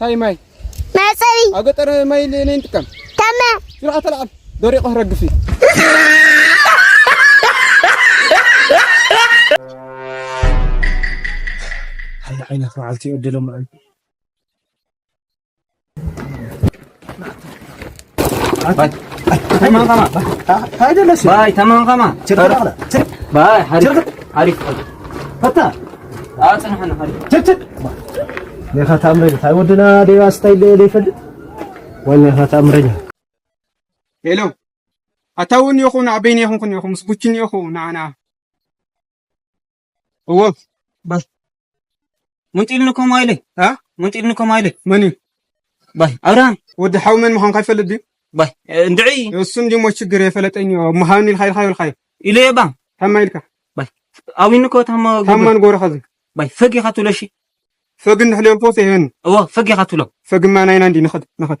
ታይ ማይ መጸሪ ኣብ ገጠር ማይ ለነይ ንጥቀም ተመ ስርዓ ተላዓል ደሪቑ ክረግፍ እዩ ሓንቲ ዓይነት መዓልቲ ይዕድሎም ሄሎ ኣታውን ኢኹ ንዓበይን ኢኹን ኢኹ ምስ ቡችን ኢኹ ንዓና እወ ባይ መንጢልኒ ከምኡ ኢለይ መንጢልኒ ከምኡ ኢለይ መን እዩ ባይ ኣብርሃም ወዲ ሓው መን ምዃንካ ይፈልጥ ድዩ ባይ እንድዒ እሱ እንዲሞ ችግር የፈለጠኝ መሃብኒ ኢልካ ኢልካ ይብልካ ኢለ እየ ባም ታማ ኢልካ ባይ ኣዊኒ እኮ ታማ ታማን ጎረኻ እዚ ባይ ፈግ ኢኻ ትብሎ እሺ ፈግ እንድሕልዮም ፎስ ይህን እወ ፈግ ኢኻ ትብሎ ፈግማ ናይና እንዲ ንኸድ ንኸድ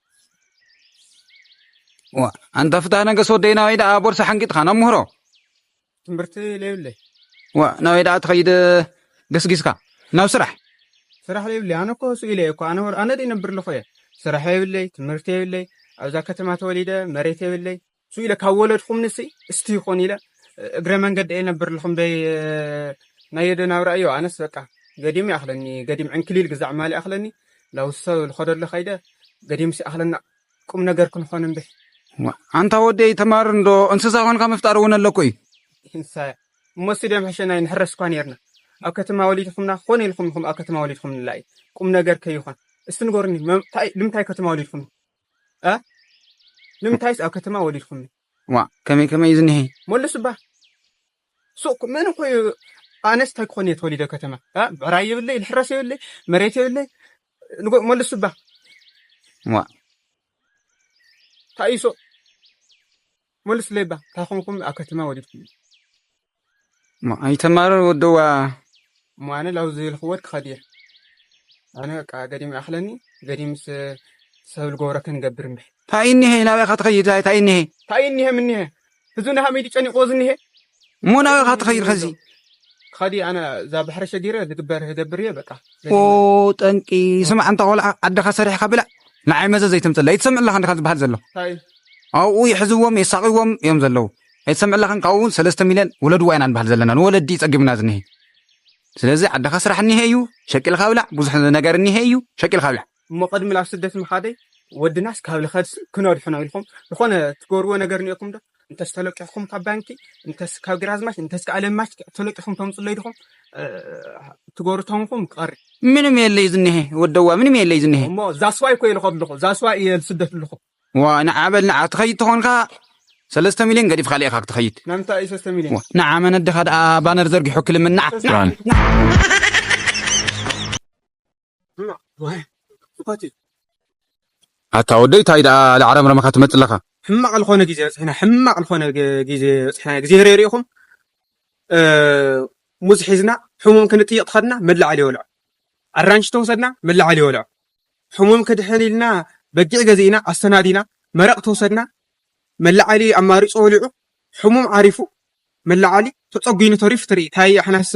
ኣንታ ፍትሃ ነገስ ወደይ ናበይ ደኣ ቦርሳ ሓንጊጥካ ናብ ምህሮ ትምህርቲ ለይብለይ ዋ ናበይ ደኣ ትኸይድ ገስጊስካ ናብ ስራሕ ስራሕ ለይብለይ ኣነ እኮ ስኢለ እየ እኮ ኣነ ኣነ ድእ ይነብር ኣለኹ እየ ስራሕ የብለይ ትምህርቲ የብለይ ኣብዛ ከተማ ተወሊደ መሬት የብለይ ሱ ኢለ ካብ ወለድኹም ንሲ እስቲ ይኾን ኢለ እግረ መንገዲ እየ ነብር ልኹም ደይ ናይ የደ ናብራ እዮ ኣነስ በቃ ገዲም ይኣኽለኒ ገዲም ዕንክሊል ግዛዕ ማል ይኣኽለኒ ላውሰ ልኸደሎ ከይደ ገዲም ሲኣኽለና ቁም ነገር ክንኾን እምብሕ ኣንታ ወደይ ተማር እንዶ እንስሳ ኮንካ ምፍጣር እውን ኣለኩ እዩ እንሳያ እሞ ስደም ሕሸናይ ንሕረስ እኳ ነርና ኣብ ከተማ ወሊድኹምና ክኾነ ኢልኹም ኢኹም ኣብ ከተማ ወሊድኹም ንላ እዩ ቁም ነገር ከይኾን እስቲ ንገሩኒ ልምንታይ ከተማ ወሊድኹም እ ንምንታይስ ኣብ ከተማ ወሊድኩምኒ? ዋእ ከመይ ከመይ እዩ ዝኒሀ? መለሱ እባ ሱቕ መን እኮ እዩ ኣነስ እንታይ ክኾን እየ ተወሊደ ከተማ እ ብዕራይ የብለይ ልሕረስ የብለይ መሬት የብለይ ንጎ- መለሱ እባ ዋእ እንታይ እዩ ሱቕ መልስለይ እባ እንታይ ኮንኩም ኣብ ከተማ ወሊድኩምኒ? ኣይተማረን ወደዋ እሞ ኣነ ላው ዝልክወት ክኸድ እየ ኣነ በቃ ገዲም ይኣኽለኒ ገዲምስ ሰብ ልገብሮ ክንገብር እምበይ ታይ እኒሀ ናበይካ ትኸይድ ታይ እኒሀ ታይ እኒሀ ምኒሀ ህዝቢ ንሃመይ ድዩ ጨኒቕዎ ዝኒሀ እሞ ናበይካ ትኸይድ ከዚ ክኸድ እየ ኣነ እዛ ባሕሪ ሸጊረ ዝግበር ህገብር እየ በቃ ኦ ጠንቂ ስማ ኣንታ ቆልዓ ዓድኻ ሰሪሕካ ብላዕ ንዓይ መዘ ዘይተምፅላ ይትሰምዕ ኣለካ እንድካ ዝበሃል ዘሎ ኣብኡ ይሕዝዎም የሳቂዎም እዮም ዘለዉ ኣይትሰምዕላኽን ካብኡ እውን ሰለስተ ሚልዮን ወለድዋ ኢና ንበሃል ዘለና ንወለዲ እዩ ፀጊሙና ዝኒሀ ስለዚ ዓድኻ ስራሕ እኒሀ እዩ ሸቂልካ ብላዕ ብዙሕ ነገር እኒሀ እዩ ሸቂልካ ብላዕ እሞ ቅድሚ ላብ ስደት ምኻደይ ወድናስ ካብ ልኸድስ ክነድሕኖ ኢልኹም ዝኾነ ትገብርዎ ነገር እኒኤኩም ዶ እንተስ ተለቂሕኩም ካብ ባንኪ እንተስ ካብ ግራዝማች እንተስ ከዓ ለማች ተለቂሕኩም ተምፅለይ ድኹም ትገብሩ ተንኹም ክቐሪ ምንም የለይ ዝኒሀ ወደዋ ምንም የለይ ዝኒሀ እሞ ዛስዋይ እኮ ኢልኸ ኣለኹ ዛስዋይ እየ ስደት ኣለኹ ዋ ንዓ በል ንዓ ትኸይድ ተኾንካ ሰለስተ ሚልዮን ገዲፍካ ሊኢኻ ክትኸይድ ናምንታይ እዩ ሰለስተ ሚልዮን ንዓ መነድኻ ደኣ ባነር ዘርጊሑ ክልምን ንዓ ራን ኣታ ወደይ ታይ ደኣ ለዓረምረመኻ ትመጽእ ኣለኻ ሕማቕ ዝኾነ ግዜ በጽሕና ሕማቕ ዝኾነ ግዜ በጽሕና ግዜ ህረይ ርኢኹም ሙዝ ሒዝና ሕሙም ክንጥይቕ ተኸድና መላዓል ይወልዖ ኣራንሽ ተወሰድና መላዓል ይወልዖ ሕሙም ክድሕን ኢልና በጊዕ ገዚእና ኣሰናዲና መረቕ ተወሰድና መለዓሊ ኣማሪጹ ወሊዑ ሕሙም ዓሪፉ መለዓሊ ተጸጒኑ ተሪፉ ትርኢ ታይ ኣሕናስ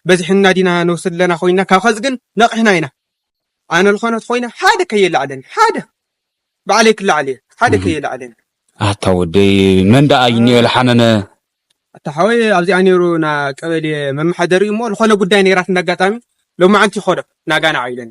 በዝሕና ዲና ንወስድ ኣለና ኮይና ካብ ኸዚ ግን ነቒሕና ኢና ኣነ ዝኾነት ኮይና ሓደ ከየለዓለን ሓደ ባዕለይ ክለዓል እየ ሓደ ከየለዓለን ኣታ ወደይ መን ደኣ እዩ ኒኦ ዝሓመመ ኣታ ሓወይ ኣብዚኣ ነይሩ ና ቀበሌ መመሓደሪ እሞ ዝኾነ ጉዳይ ነይራት እንዳጋጣሚ ሎማዓንቲ ይኸዶ ናጋና ዓይለን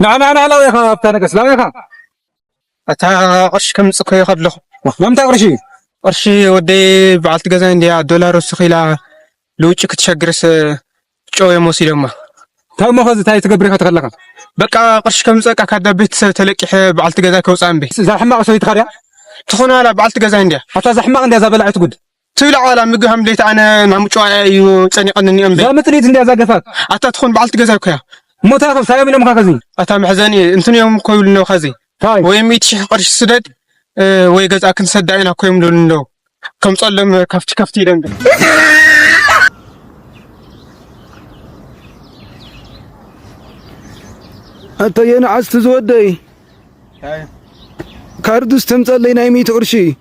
ንዓ ንዓ ንዓ ላውያኻ ኣብታ ነገስ ላውያኻ ኣታ ቅርሺ ከምፅእ ኮዮ ከለኹ ማምታ ቅርሺ ቅርሺ ወደይ በዓልቲ ገዛ እንዲያ ዶላር ወስኽ ኢላ ልውጭ ክትሸግርስ ጨው እዮም ወሲዶማ ታሞ ኸዚ እንታይ ትገብር ኢኻ ተኸለኻ በቃ ቅርሺ ከምፀቃ ካዳ ቤተሰብ ተለቂሐ በዓልቲ ገዛ ከውፃ እምበይ እዛ ሕማቕ ሰበይቲ ኸድያ ትኾነ ዋላ በዓልቲ ገዛ እንዲያ ኣታ እዛ ሕማቕ እንዲያ እዛ በላዒት ጉድ ትብል ዓዋላ ምግብ ሃምደይት ኣነ ናብ ምጭዋያ እዩ ጸኒቐኒ እኒኦም ዘይ ምጥሊት እንዲያ ዛገፋት ኣታ ትኹን በዓልቲ ገዛ እኮያ ሞታ ካብ ሳዮም ኢሎምካ ከዚ ኣታ መሕዘኒ እንትን እዮም እኮ ይብሉ እነው ከዚ ታይ ወይ ሚእቲ ሽሕ ቅርሺ ስደድ እ፣ ወይ ገዛ ክንሰዳ ኢና እኮ እዮም ልብሉ እነው ከምጸሎም ከፍቲ ከፍቲ ኢሎም ዶ ኣታ የንዓስቲ ዝወደይ ካርዱስ ተምጸለይ ናይ ሚእቲ ቅርሺ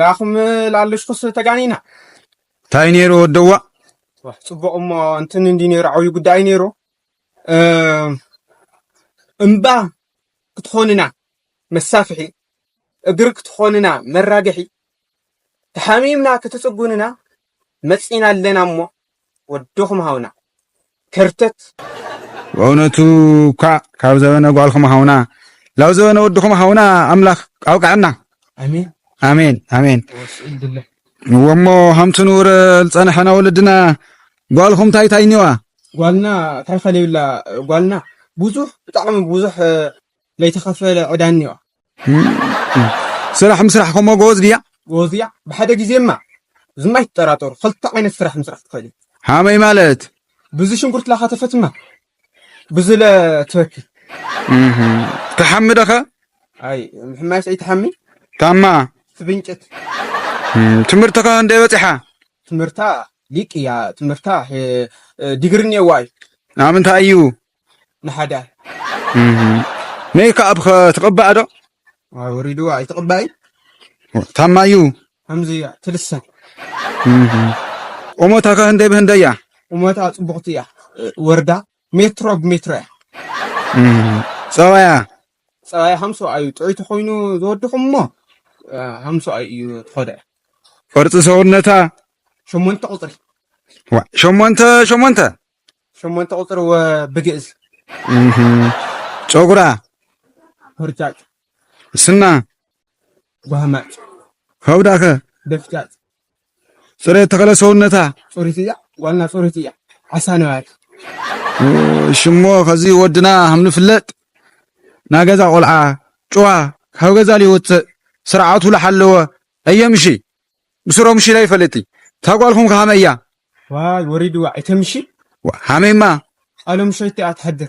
ላኹም ላለሽኩስ ተጋኒና እንታይ ነይሩ ወደዋ ፅቡቕ እሞ እንትን እንዲ ነይሩ ዓብዩ ጉዳይ ነይሩ እምባ ክትኾንና መሳፍሒ እግሪ ክትኾንና መራገሒ ተሓሚምና ክትፅጉንና መፂና ኣለና እሞ ወድኹም ሃውና ከርተት። በእውነቱ እኳዕ ካብ ዘበነ ጓልኩም ሃውና ላብ ዘበነ ወድኹም ሃውና ኣምላኽ ኣብቀዐና። ኣሜን ኣሜን ኣሜን ወስኡ ድለ እወሞ ሃምቲ ንውረ ዝጸንሐና ወለድና ጓልኹም ታይ ታይ ኒዋ ጓልና ታይ ፈለዩላ ጓልና ብዙሕ ብጣዕሚ ብዙሕ ለይተኸፈለ ዕዳ እኒኦ። ስራሕ ምስራሕ ከምኡ ጎበዝ ድያ? ጎበዝ እያ ብሓደ ግዜማ እዝማ ኣይትጠራጠሩ ክልተ ዓይነት ስራሕ ምስራሕ ትኽእል እያ። ሃመይ ማለት ብዙ ሽንጉርት ላኸተፈትማ ብዙ ለትበክል ተሓሚ ደኸ ኣይ ምሕማይስ ኣይተሓሚ ታማ ትብንጭት ትምህርትኸ እንደ በፂሓ ትምህርታ ሊቅ እያ ትምህርታ ዲግሪ እኒኤዋ እዩ ናምንታይ እዩ ንሓዳር ሜክኣፕ ከ ትቅባእ ዶ? ወሪድዋ ኣይትቅባይ ታማዩ ከምዚ እያ ትልሰን ቁመታ ከ ህንደይ ብህንደይ እያ? ቁመታ ጽቡቅቲ እያ ወርዳ ሜትሮ ብሜትሮ እያ ጸባያ ጸባያ ሃምሶ ኣዩ ጥዑይ ተኮይኑ ዝወድኹም እሞ ሃምሶ ኣዩ እዩ ትኸደ ቅርጺ ሰውነታ ሸሞንተ ቁጽሪ ሸሞንተ ሸሞንተ ሸሞንተ ቁፅሪ ወ ብግእዝ እህ ጨጉራ ሆርጫጭ ስና ጓህማጭ ከብዳኸ ደፍጫጭ ፅሬት ተኸለ ሰውነታ ፅሪት እያ ዋና ፅሪት እያ ዓሳ ነባሪ ሽሞ ከዚ ወድና ከም ንፍለጥ ናይ ገዛ ቆልዓ ጭዋ ካብ ገዛ ዘይወፅእ ስርዓቱ ዝሓለወ እየምሺ ብስሮም ሽለ ይፈልጥይ እታ ጓልኩም ከሃመይ እያ። ዋይ ወሪድዋ ኣይተምሺ ሃመይማ ቃሎም ሸይታ እያ ትሐድር።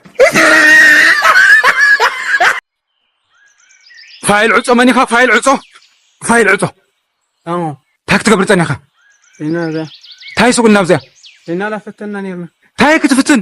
ፋይል ዕጾ መን ኢኻ ፋይል ዕጾ ፋይል ዕጾ ኣዎ እንታይ ክትገብር ጸኒሕካ? ታይ ሱቅ እናብዚኣ ታይ ክትፍትን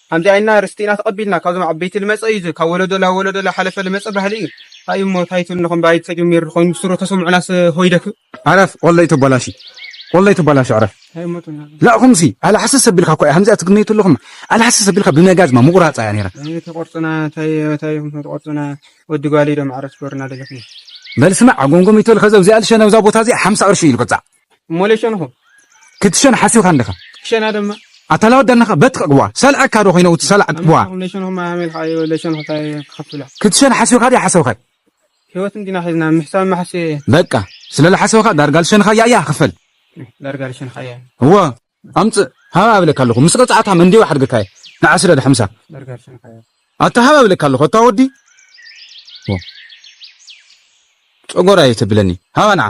ከምዚ ኢልና ርስቲ ኢና ተቀቢልና ካብዞም ዓበይቲ ልመጸ እዩ እዚ ካብ ወለዶ ላብ ወለዶ ላሓለፈ ልመጸ ባህሊ እዩ። ታይ እሞ ታይ ትብልንኹም ባይት ተጀሚሩ ልኾይኑ ብስሩ ተሰሙዑናስ ሆይደክ። ዕረፍ ወለይ ተባላሹ ወለይ ተባላሹ ዕረፍ ላእኹምሲ ኣላሕስስ ኣቢልካ እኳ እያ ከምዚኣ ትግመይቱ ኣለኹም ኣላሕስስ ኣቢልካ ብመጋዝማ ምቑራጻ እያ ነይራ። ኣይ ተቆርጹና ታይ ታይ ኢኹም ተቆርጹና ወዲ ጓልይ ዶ ማዕረ ትገብሩና ደለኹም። በል ስማዕ ጎምጎሚት በል ከዚ ኣብዚኣ ልሸነ ኣብዛ ቦታ እዚኣ ሓምሳ ቅርሺ እዩ ልቅጻዕ። እሞለ ሸንኹ ክትሸን ሓሲብካ ኣለኻ ክሸና ድማ ኣታ ላወዲ ኣለኻ በትቕዋ ሰልዐካ ዶ ኮይነ እቲ ሰላዕ ትዋ ክትሸን ሓሲብካ ድያ ሓሰብካ ህይወት እንዲና ሒዝና ምሕሳብ ማሕሲ በቃ ስለ ዝሓሰብካ ዳርጋ ልሸንኻያ እያ ክፈል ዳርጋ ልሸንኻያ እወ ኣምፅእ ሃባ ኣብለካ ኣለኹ ምስ ቅፅዓታ መንዲዮ ሓድግካ እየ ንዓስረ ድሓምሳ ኣታ ሃባ ኣብለካ ኣለኹ ኣታ ወዲ ጨጎራ እየ ተብለኒ ሃባ ንዓ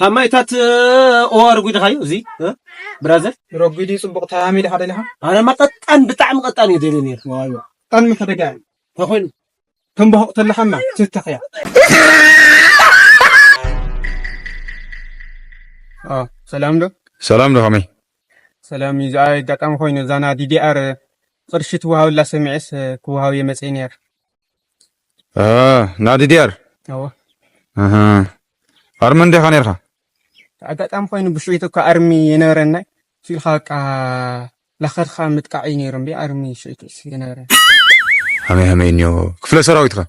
ካብ ማይታት ኦ ረጒድኻዮ እዚ ብራዘር ረጒድ እዩ ፅቡቕ ተሃሚ ድኻ ደሊኻ ኣነማ ቀጣን ብጣዕሚ ቀጣን እዩ ደልየ ነይሩ ዋይዋ ቀን ምሕደጋ እዩ ተኮይኑ ተንባሁቕ ተለኻማ ትተኽያ ሰላም ዶ ሰላም ዶ ከመይ ሰላም እዩ ዝኣ ኣጋጣሚ ኮይኑ እዛና ዲዲኣር ቅርሺ ትወሃብላ ሰሚዐስ ክወሃብ እየ መፅእ ነይር ናዲ ዲያር ኣወ ኣርሚ እንዲኻ ነርካ ኣጋጣሚ ኮይኑ ብሽዒቱ እኳ ኣርሚ የነበረና ሲልካ በቃ ላኸድካ ምጥቃዕ እዩ ነይሩ እምቢ ኣርሚ ሽዒቱ የነበረ ሃመይ ሃመይ እኒዮ ክፍለ ሰራዊት ኸ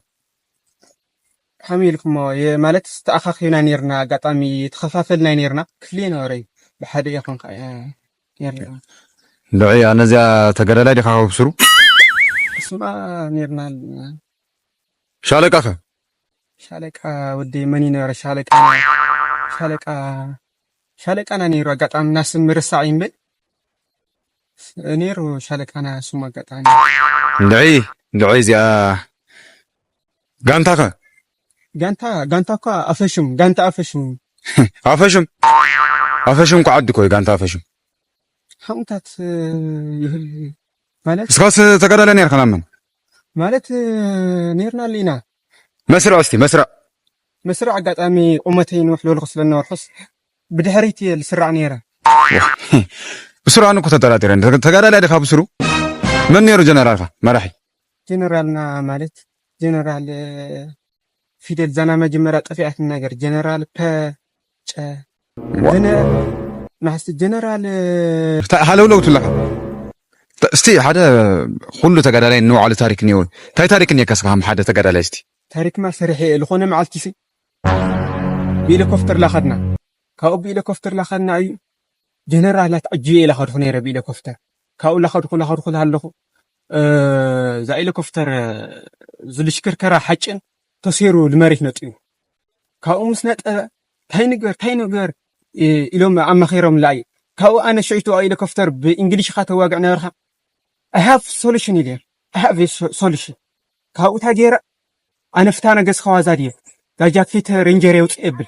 ከመይ ኢልኩሞ ማለት ተኣኻኺብና ነርና ኣጋጣሚ ተኸፋፈልና ነርና ክፍሊ የነበረ እዩ ብሓደ ኢኹን ልዕይ ኣነዚኣ ተጋዳላይ ዲኻ ካብ ስሩ ስማ ኔርና ሻለቃ ከ ሻለቃ ወዲ መን ይነበረ ሻለቃ ሻለቃ ሻለቃና ነይሩ ኣጋጣሚ እና ስም ምርሳዕ ይምብል ነይሩ ሻለቃና ስሙ ኣጋጣሚ ልዕይ ልዕይ እዚኣ ጋንታ ከ ጋንታ ጋንታ እኳ ኣፈሹም ጋንታ ኣፈሹም ኣፈሹም ኣፈሹም እኳ ዓዲ እኮ እዩ ጋንታ ኣፈሹም ሓቕምታት ይህል ማለት እስካስ ተጋዳለ ነርካ ናመን ማለት ነርና ኣሉ ኢና መስርዕ እስቲ መስርዕ መስርዕ ኣጋጣሚ ቁመተይ ንውሕ ዝበልኩ ስለነበርኩስ ብድሕሪት እየ ዝስራዕ ነይረ ብስሩ ኣነ እኮ ተጠራጢረ ተጋዳላይ ድካ ብስሩ መን ነይሩ ጀነራልካ መራሒ ጀነራልና ማለት ጀነራል ፊደል ዛና መጀመርያ ጠፊኣት ነገር ጀነራል ፐ ጨ ጀነ ናሕሲ ጀነራል ሃለውለው ትለካ እስቲ ሓደ ኩሉ ተጋዳላይ ንባዕሉ ታሪክ እኒኦ እንታይ ታሪክ እኒካ ስኻ ሓደ ተጋዳላይ እስቲ ታሪክማ ሰሪሐ እየ ዝኾነ መዓልቲ ሲ ብኢለኮፍተር ላኸድና ካብኡ ብኢለኮፍተር ላኸድና እዩ ጀነራላት ዕጅበ ኢላ ከድኹ ነይረ ብኢለኮፍተር ካብኡ ላኸድኹ ላኸድኹ ሃለኹ እዛ ኤሌኮፍተር ዝልሽክርከራ ሓጭን ተሰይሩ ንመሬት ነጥዩ ካብኡ ምስ ነጠበ ታይ ንግበር ታይ ንግበር ኢሎም ኣማኺሮም ላዩ ካብኡ ኣነ ሽዕቱ ኤሌኮፍተር ብእንግሊሽ ካ ተዋግዕ ነበርካ ኣይ ሃቭ ሶሉሽን ኢለ ኣይ ሃቭ ሶሉሽን ካብኡ ታይ ገይረ ኣነ ፍታነ ገዝካ ዋዛ ድየ ዳጃኬተ ሬንጀር የውፅእ የብል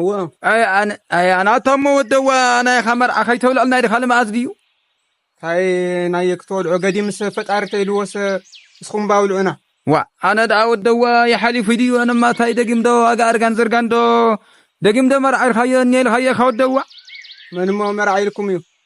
እወ ኣይ ኣነ ኣይ ኣነ ኣታሞ ወደዋ ናይኻ መርዓ ከይተብልዕልና ኢልካ ልምኣት ድዩ ታይ ናይ ክትወልዑ ገዲ ምስ ፈጣሪ ተይልወሰ እስኹም ባብልዑና ዋ ኣነ ደኣ ወደዋ ይሓሊፉ ድዩ ኣነማ ታይ ደጊም ዶ ዋጋ እርጋን ዝርጋን ዶ ደጊም ዶ መርዓ ኢልካዮ እኒ ኢልካዮ ኢኻ ወደዋ መንሞ መርዓ ኢልኩም እዩ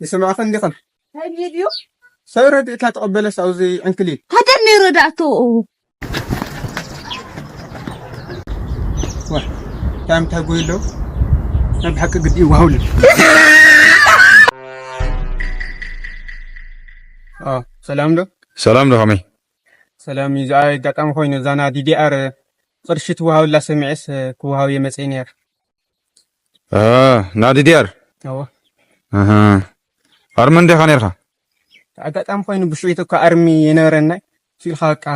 ይስማዕኺ እንዲኽን ሰብ ረድኢታ ተቐበለስ ኣብዚ ዕንክሊል ሃገር ነይ ረዳእቶ እንታይ ምታይ ጎይ ኣለዉ ናይ ብሓቂ ግዲ ይዋሃውሉ ሰላም ዶ ሰላም ዶ ከመይ ሰላም እዩ ዝኣ ኣጋጣሚ ኮይኑ እዛና ዲዲኣር ቅርሺ ትወሃብላ ሰሚዐስ ክወሃብ እየ መፅእ ነይር ናብ ዲዲኣር እወ ኣርሚ እንዲኻ ነርካ ኣጋጣሚ ኮይኑ ብሽዑቱ እኳ ኣርሚ የነበረና ሲልካ በቃ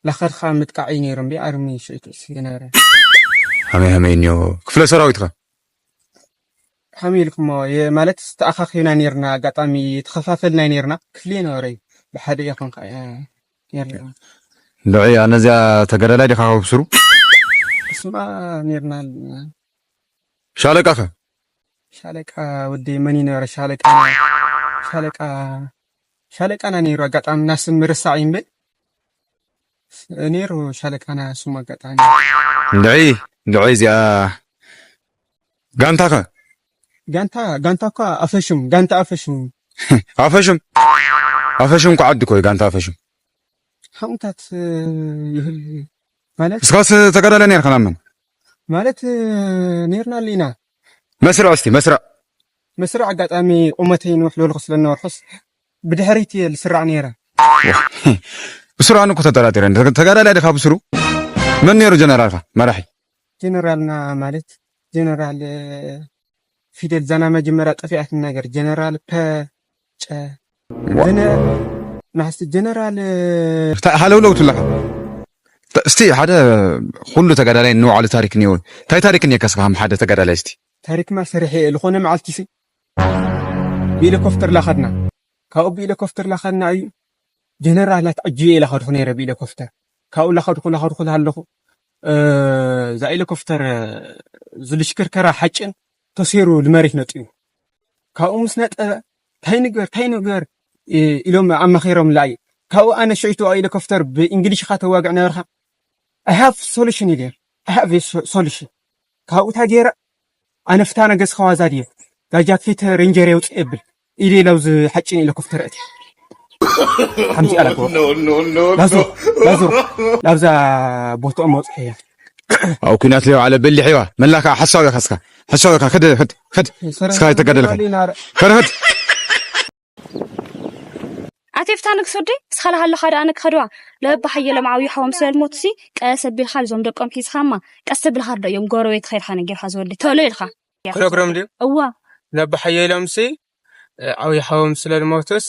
ላኸድካ ምጥቃዕ እዩ ነይሩ እምቢ ኣርሚ ሽዑቱ የነበረ ሃመይ ሃመይ እኒዮ ክፍለ ሰራዊት ኸ ከመይ ኢልኩሞ ማለት ተኣኻኺብና ነርና ኣጋጣሚ ተኸፋፈልና ነርና ክፍሊ የነበረ እዩ ብሓደ ኢኹን ልዕይ ኣነዚኣ ተጋዳላይ ዲኻ ካብ ሱሩ እሱማ ኔርና ሻለቃ ከ ሻለቃ ወዲ መን ይነበረ ሻለቃ ሻለቃ ሻለቃና ኔሩ ኣጋጣሚ እና ስም ምርሳዕ እዩ እምበይ ኔሩ ሻለቃና ስሙ ኣጋጣሚ ልዕይ ልዕይ እዚኣ ጋንታ ከ ጋንታ ጋንታ እኳ ኣፈሹም ጋንታ ኣፈሹም ኣፈሹም ኣፈሹም እኳ ዓዲ እኮ እዩ ጋንታ ኣፈሹም ሓቕምታት ይህል ማለት እስካስ ተጋዳለ ነርካ ናመን ማለት ነርና ኣሉ ኢና መስርዕ እስቲ መስርዕ መስርዕ ኣጋጣሚ ቁመተይ ንውሕ ዝበልኩ ስለነበርኩስ ብድሕሪት እየ ዝስራዕ ነይረ ብስሩ ኣነ እኮ ተጠራጢረ ተጋዳላይ ድካ ብስሩ መን ነይሩ ጀነራልካ መራሒ ጀነራልና ማለት ጀነራል ፊደል ዛና መጀመርያ ጠፊኣት ነገር ጀነራል ፐ ጨ ጀነ ናሕሲ ጀነራል ሃለውለው ትለካ እስቲ ሓደ ኩሉ ተጋዳላይ ንባዕሉ ታሪክ እኒኦ እንታይ ታሪክ እኒካ ስኻ ሓደ ተጋዳላይ እስቲ ታሪክማ ሰሪሐ እየ ዝኾነ መዓልቲ ሲ ብኢለኮፍተር ላኸድና ካብኡ ብኢለኮፍተር ላኸድና እዩ ጀነራላት ዕጅበ ኢላ ከድኹ ነይረ ብኢለኮፍተር ካብኡ ላኸድኹ ላኸድኹ ሃለኹ እዛ ኤሌኮፍተር ዝልሽክርከራ ሓጭን ተሰይሩ ንመሬት ነጥዩ ካብኡ ምስ ነጠበ ታይ ንግበር ታይ ንግበር ኢሎም ኣማኺሮም ላዩ ካብኡ ኣነ ሽዕቱ ሄሊኮፕተር ብእንግሊሽ ካ ተዋግዕ ነበርካ ኣይ ሃቭ ሶሉሽን ኢለ ኣይ ሃቭ ሶሉሽን ካብኡ ታይ ገይረ ኣነ ፍታ ነገስ ከዋዛ ድየ እዛ ጃኬት ሬንጀር የውፅእ የብል ኢሊ ለውዝ ሓጭን ኢለ ኩፍት ርእቲ ከምዚኣ ላግቦ ላዙ ላዙ ላብዛ ቦትኦም መውፅሒ እያ ኣብ ኩናት ሊዮ ዓለ በሊሕ እዋ መላ ከዓ ሓሳብ እያ ካስካ ሓሳብ እያ ከደ ከድ ከድ እስካ ይተገደልካ ከደ ከድ ኣቴፍታ ንግሱዲ ስኻላ ሃለኻ ደኣ ንክኸድዋ ለበባ ሓየሎም ዓብዩ ሓዎም ስለልሞትሲ ቀስ ኣቢልካ ልዞም ደቆም ሒዝኻማ ቀስ ኣቢልካ ርዶ እዮም ጎረቤት ኸይድካ ነጊርካ ዝወዲ ተሎ ኢልካ ክነግሮም ድዩ እዋ ነቦ ሓየሎምሲ ዓብይ ሓዎም ስለ ዝሞቱስ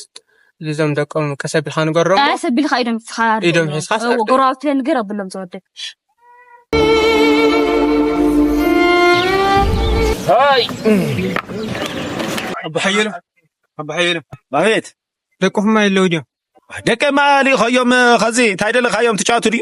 ልዞም ደቆም ቀስ ኣቢልካ ንገሮም ቀስ ኣቢልካ ኢዶም ሒዝካ ኢዶም ሒዝካ ጎረባብቲ ንገር ኣብሎም ዝወደብ ሃይ ኣቦ ሓየሎ ኣቦ ሓየሎ ኣቤት ደቅኹም ኣለዉ ድዮም ደቀማ ልኢኸዮም ኸዚ እንታይ ደለኻዮም ትጫወቱ ድዩ